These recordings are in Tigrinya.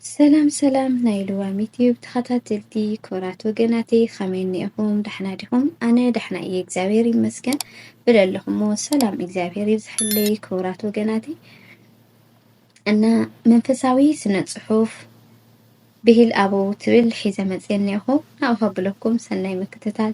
ሰላም ሰላም ናይ ልዋም ዩትዩብ ተኸታተልቲ ክብራት ወገናተይ ከመይ እኒኤኹም? ዳሕና ዲኹም? ኣነ ዳሕና እየ እግዚኣብሔር ይመስገን። ብለለኹሞ ሰላም እግዚኣብሔር ይብዝሐለይ ክብራት ወገናተይ እና መንፈሳዊ ስነ ጽሑፍ ብሂል ኣበው ትብል ሒዘ መጽየ እኒኤኹ ናብኡ ከብለኩም ሰናይ ምክትታል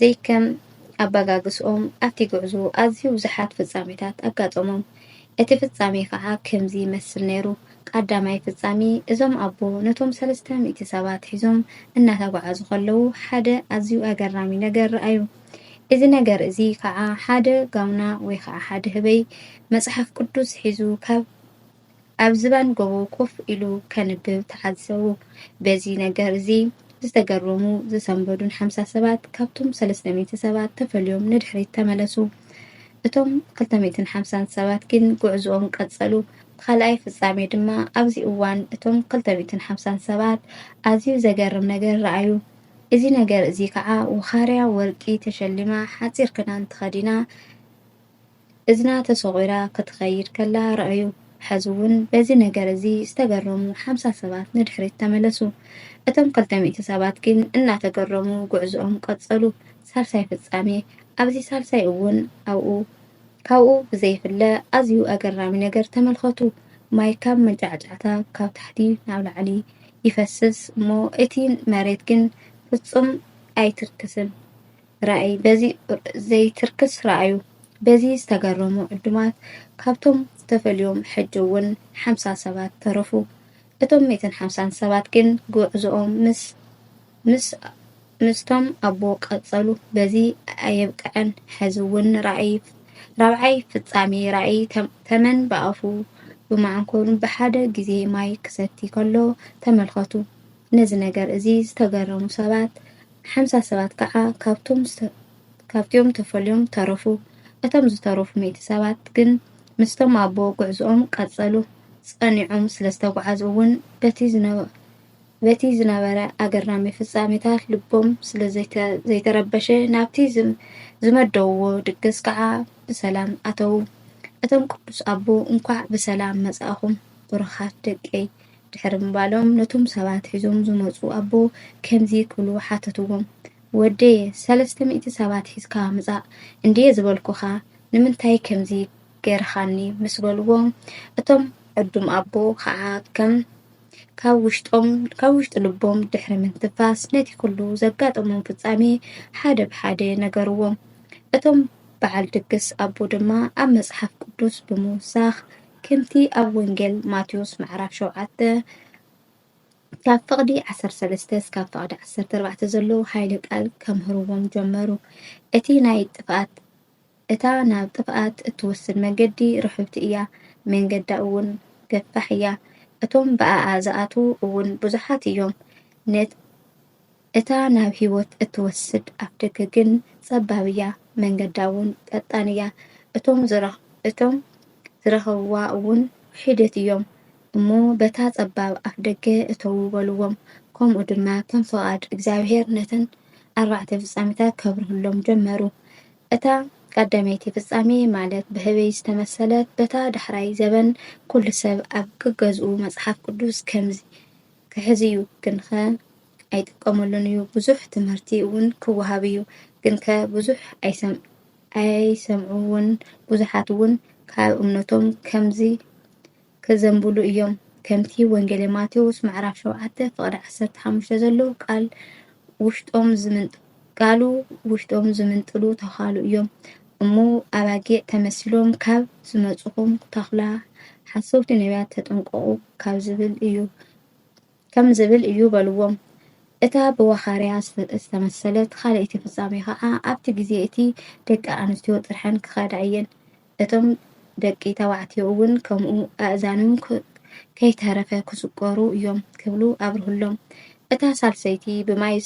ዘይከም ኣበጋግስኦም ኣብቲ ጉዕዞ ኣዝዩ ብዙሓት ፍጻሜታት ኣጋጠሞም። እቲ ፍጻሜ ከኣ ከምዚ ይመስል ነይሩ፣ ቃዳማይ ፍጻሜ፣ እዞም ኣቦ ነቶም ሰለስተ ሚእቲ ሰባት ሒዞም እናተጓዓዙ ከለዉ ሓደ ኣዝዩ ኣገራሚ ነገር ረኣዩ። እዚ ነገር እዚ ከኣ ሓደ ጋውና ወይ ከኣ ሓደ ህበይ መጽሓፍ ቅዱስ ሒዙ ካብ ኣብ ዝባን ጎቦ ኮፍ ኢሉ ከንብብ ተዓዘቡ። በዚ ነገር እዚ ዝተገረሙ ዝሰንበዱን ሓምሳ ሰባት ካብቶም ሰለስተ ሚእቲ ሰባት ተፈልዮም ንድሕሪት ተመለሱ። እቶም ክልተ ሚእትን ሓምሳን ሰባት ግን ጉዕዝኦም ቀጸሉ። ካልኣይ ፍጻሜ ድማ ኣብዚ እዋን እቶም ክልተ ሚእትን ሓምሳን ሰባት ኣዝዩ ዘገርም ነገር ረኣዩ። እዚ ነገር እዚ ከዓ ውኻርያ ወርቂ ተሸሊማ ሓጺር ክዳን ተኸዲና እዝና ተሶቒራ ክትኸይድ ከላ ረኣዩ። ሕዚ'ውን በዚ ነገር እዚ ዝተገረሙ ሓምሳ ሰባት ንድሕሪት ተመለሱ። እቶም ክልተ ሚእቲ ሰባት ግን እናተገረሙ ጉዕዞኦም ቀጸሉ። ሳልሳይ ፍጻሜ፣ ኣብዚ ሳልሳይ እውን ኣብኡ ካብኡ ብዘይፍለ ኣዝዩ ኣገራሚ ነገር ተመልከቱ። ማይ ካብ መንጫዕጫዕታ ካብ ታሕቲ ናብ ላዕሊ ይፈስስ እሞ እቲ መሬት ግን ፍጹም ኣይትርክስን። ራእይ በዚ ዘይትርክስ ረኣዩ። በዚ ዝተገረሙ ዕዱማት ካብቶም ተፈልዮም ሕጂ እውን ሓምሳ ሰባት ተረፉ። እቶም ሚእትን ሓምሳን ሰባት ግን ጉዕዞኦም ምስ ምስ ምስቶም ኣቦ ቀጸሉ። በዚ ኣየብቅዐን ሕዚ እውን ራእይ ራብዓይ ፍጻሜ ራእይ ተመን ብኣፉ ብመዓንኮሩን ብሓደ ግዜ ማይ ክሰቲ ከሎ ተመልከቱ። ነዚ ነገር እዚ ዝተገረሙ ሰባት ሓምሳ ሰባት ከኣ ካብቲኦም ተፈልዮም ተረፉ። እቶም ዝተረፉ ሚእቲ ሰባት ግን ምስቶም ኣቦ ጉዕዞኦም ቀጸሉ። ጸኒዖም ስለ ዝተጓዕዙ እውን በቲ ዝነበረ ኣገራሚ ፍጻሜታት ልቦም ስለ ዘይተረበሸ ናብቲ ዝመደብዎ ድግስ ከኣ ብሰላም ኣተዉ። እቶም ቅዱስ ኣቦ እንኳዕ ብሰላም መጻእኹም ብሩኻት ደቀይ ድሕሪ ምባሎም ነቶም ሰባት ሒዞም ዝመጹ ኣቦ ከምዚ ክብሉ ሓተትዎም፣ ወደየ፣ ሰለስተ ሚእቲ ሰባት ሒዝካ ምጻእ እንድየ ዝበልኩኻ፣ ንምንታይ ከምዚ ገርኻኒ? ምስ በልዎ፣ እቶም ዕዱም ኣቦ ኸኣ ከም ካብ ውሽጦም ካብ ውሽጢ ልቦም ድሕሪ ምንትንፋስ ነቲ ኩሉ ዘጋጠሞም ፍጻሜ ሓደ ብሓደ ነገርዎም። እቶም በዓል ድግስ ኣቦ ድማ ኣብ መጽሓፍ ቅዱስ ብምውሳኽ ከምቲ ኣብ ወንጌል ማቴዎስ ምዕራፍ ሸውዓተ ካብ ፍቕዲ ዓሰርተ ሰለስተ እስካብ ፍቕዲ ዓሰርተ ኣርባዕተ ዘለዉ ሓይሊ ቃል ከምህርዎም ጀመሩ። እቲ ናይ ጥፍኣት እታ ናብ ጥፍኣት እትወስድ መገዲ ርሕብቲ እያ፣ መንገዳ እውን ገፋሕ እያ፣ እቶም ብኣኣ ዝኣትዉ እውን ብዙሓት እዮም። እታ ናብ ህይወት እትወስድ ኣፍደገ ግን ጸባብ እያ፣ መንገዳ'ውን ቀጣን እያ፣ እቶም ዝረኸብዋ'ውን ሒደት እዮም እሞ በታ ጸባብ ኣፍደገ እተዉ በልዎም። ከምኡ ድማ ከም ፍቓድ እግዚኣብሔር ነተን ኣርባዕተ ፍጻሜታት ከብርህሎም ጀመሩ። እታ ቀዳመይቲ ፍጻሜ ማለት ብህበይ ዝተመሰለት በታ ዳሕራይ ዘበን ኩሉ ሰብ ኣብ ገገዝኡ መጽሓፍ ቅዱስ ከምዚ ክሕዝ'ዩ፣ ግንኸ ኣይጥቀሙሉን እዩ ብዙሕ ትምህርቲ እውን ክወሃብ እዩ ግንከ ብዙሕ ኣይሰምዑዎን ብዙሓት እውን ካብ እምነቶም ከምዚ ከዘንብሉ እዮም ከምቲ ወንጌሌ ማቴዎስ ምዕራፍ ሸውዓተ ፍቕዲ ዓሰርተ ሓሙሽተ ዘሎ ቃል ውሽጦም ዝምንጥ ቃሉ ውሽጦም ዝምንጥሉ ተዃሉ እዮም እሞ ኣባጊዕ ተመሲሎም ካብ ዝመፁኹም ተኹላ ሓሰውቲ ነቢያት ተጠንቀቑ ካብ ዝብል እዩ ከም ዝብል እዩ በልዎም። እታ ብዋኻርያ ዝተመሰለት ኻልኣይቲ ፍጻሜ ኸኣ፣ ኣብቲ ግዜ እቲ ደቂ ኣንስትዮ ጥርሐን ክኸዳ እየን፣ እቶም ደቂ ተባዕትዮ እውን ከምኡ፣ ኣእዛንም ከይተረፈ ክስቈሩ እዮም ክብሉ ኣብርሁሎም። እታ ሳልሰይቲ ብማይ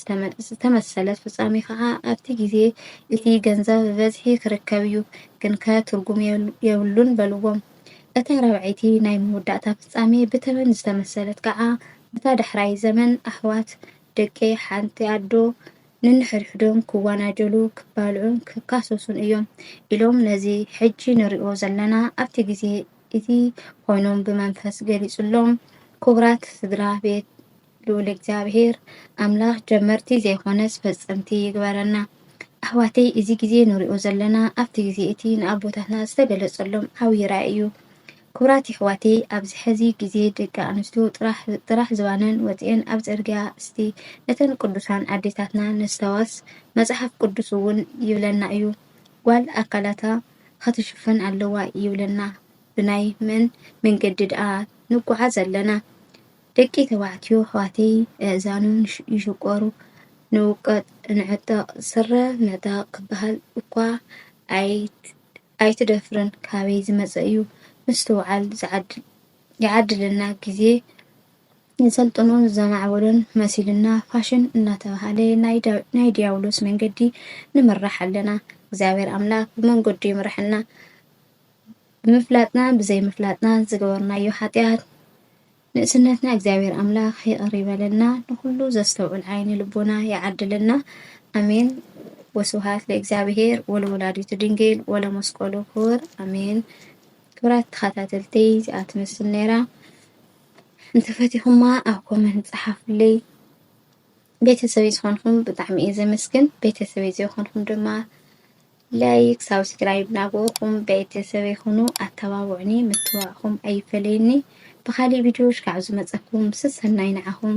ዝተመሰለት ፍጻሜ ኸኣ፣ ኣብቲ ግዜ እቲ ገንዘብ ብበዝሒ ክርከብ እዩ፣ ግንከ ትርጉም የብሉን በልዎም። እታ ራብዐይቲ ናይ መወዳእታ ፍጻሜ ብተመን ዝተመሰለት ከኣ በታ ዳሕራይ ዘመን ኣሕዋት ደቂ ሓንቲ ኣዶ ነንሕድሕዶም ክዋናጀሉ ክባልዑን ክካሰሱን እዮም ኢሎም ነዚ ሕጂ ንሪኦ ዘለና ኣብቲ ግዜ እቲ ኮይኖም ብመንፈስ ገሊጹሎም ኩብራት ስድራ ቤት ልኡል እግዚኣብሔር ኣምላክ ጀመርቲ ዘይኮነስ ፈጸምቲ ይግበረና። ኣሕዋተይ እዚ ግዜ ንሪኦ ዘለና ኣብቲ ግዜ እቲ ንኣቦታትና ዝተገለጸሎም ዓብዪ ራእይ እዩ። ክብራት የሕዋተይ ኣብዚ ሕዚ ግዜ ደቂ ኣንስትዮ ጥራሕ ጥራሕ ዝባነን ወጺኤን ኣብ ጽርግያ እስቲ ነተን ቅዱሳን ኣዴታትና ነስታዋስ መጽሓፍ ቅዱስ እውን ይብለና እዩ ጓል ኣካላታ ኸትሽፍን ኣለዋ ይብለና ብናይ መን መንገዲ ድኣ ንጓዓዝ ኣለና ደቂ ተባዕትዮ ኣሕዋተይ ኣእዛኖም ይሽቆሩ፣ ንውቀጥ ንዕጠቕ ስረ ምዕጣቕ ክበሃል እኳ ኣይትደፍርን ካበይ ዝመፀ እዩ ምስትውዓል ይዓድለና ግዜ የሰልጠኖን ዘማዕበሎን መሲሉና ፋሽን እናተባህለ ናይ ዲያብሎስ መንገዲ ንምራሕ ኣለና እግዚኣብሔር ኣምላክ ብመንገዱ ይምረሐና ብምፍላጥና ብዘይምፍላጥና ዝገበርናዮ ሓጢኣት ንእስነትና እግዚኣብሔር ኣምላክ ይቅር ይበለልና ንኩሉ ዘስተውዕል ዓይኒ ልቦና ይዓድልና ኣሜን ወስብሃት ለእግዚኣብሔር ወለወላዲቱ ድንግል ወለመስቀሉ ክቡር ኣሜን ክብራት ተኸታተልቲ እዚኣ ትመስል ነይራ እንተፈቲኹማ ኣብ ኮመንት ፀሓፉለይ ቤተሰበይ ዝኾንኩም ብጣዕሚ እየ ዘመስግን ቤተሰበይ ዘይኮንኩም ድማ ላይክ ሳብስክራይብ ናበእኹም ቤተሰበይ ኹኑ ኣተባብዑኒ ምትብባዕኹም ኣይፈለየኒ ብኻሊእ ቪድዮ ሽካዕ ዝመፀኩም ሰሰናይ ንዓኹም